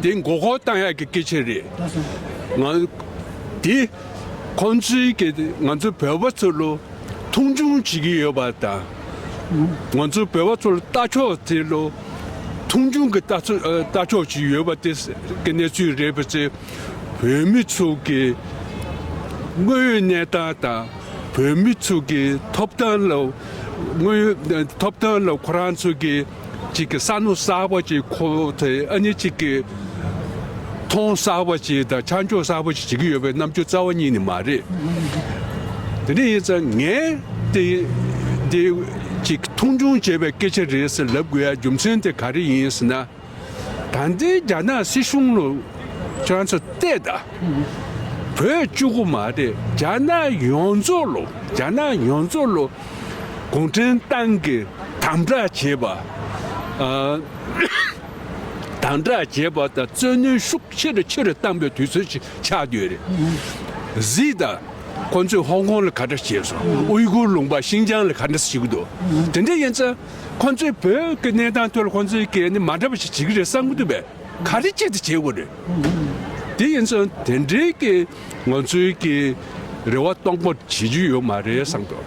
འདི་མགོ་སྐོར་བཏང་ཡག་གི་སྐད་ཆ་རེད། འདི་ཁོང་ཚོའི་གི་ང་ཚོ་བོད་པ་ཚོ་ལོ་མཐོང་ཆུང་བྱེད་ཀྱི་ཡོད་པ་དང། ང་ཚོ་བོད་པ་ཚོ་ལོ་ལྟ་ཕྱོགས་དེ་ལོ་མཐོང་ཆུང་གི་ལྟ་ལྟ་ཕྱོགས་བྱེད་ཀྱི་ཡོད་པ་དེ་གི་གནས་ཚུལ་རེད་པ་ཚེ་བོད་མི་ཚོ་གི་དངོས་ཡོད་གནས་སྟངས་དང་བོད་མི་ཚོ་གི་ཐོབ་ཐང་ལ་དངོས་ཡོད་ཐོབ་ཐང་ལ་ཁོ་རང་ཚོ་གི། གཅིག་གིས་ས་ནོར་གསར་བ་ཅིག་ཁོ་ཐལ་ཨ་ནི་གཅིག་གིས་ཐོང་གསར་བ་ཅིག་དང་ཆ་འཇོག་གསར་བ་ཅིག་བྱེད་ཀྱི་ཡོད་པའི་རྣམ་འགྱུར་རྩ་བ་གཉིས་ནི་མ་རེད། དེ་འདྲ་ཡིན་ཙང་ངས་དེ་འདི་གཅིག་མཐོང་ཆུང་བྱས་པའི་སྐད་ཆ་རེད་ཟེར་ལབ་དགོས་ཡ་རྒྱུ་མཚན་དེ་ག་རེ་ཡིན་ཟེར་ན། ད་ལྟའི་རྒྱ་ནག་སྲིད་གཞུང་ལ་ཁྱོད་རང་ཚོ་བལྟས་ད། བོད་བཅུ་དགུ་མ་རེད་རྒྱ་ནག་ཡོངས་རྫོགས་ལ་རྒྱ་ནག་ཡོངས་རྫོགས་ལ། གུང་ཁྲན་ཏང་གིས་དམ་དྲག་བྱས་པ། དམ་དྲག་བྱས་པ་དང་རྩོད་ནུས་ཤུགས་ཆེ་རུ་ཆེ་རུ་བཏང་པའི་དུས་ཚོད་ཅིག་ཆགས་འདོད་རེད། གཟིགས་དང། ཁོང་ཚོས་ཧོང་ཀོང་ལ་ག་འདྲ་བྱས་སོང། དབུས་གུར་ལུང་པ་ཤིང་ཅང་ལ་ག་འདྲ་བྱེད་ཀྱི་འདུག་དེ་འདྲ་ཡིན་ཚེ། ཁོང་ཚོས་བོད་ཀྱི་གནས་སྟངས་ཐོག་ལ་ཁོང་ཚོའི་སྐད་ནི་མ་འདྲ་བ་ཞིག་བྱེད་ཀྱི་རེད་བསམ་གྱི་འདུག་པས་ག་རེ་བྱེད་དུ་བྱེད་དགོས་རེད། དེ་ཡིན་ཚེ་དེ་འབྲེལ་གྱི་ང་ཚོའི་གི་རེ་བ་སྟོང་པོ་བྱེད་རྒྱུ་ཡོད་མ་རེད་བསམ་གི།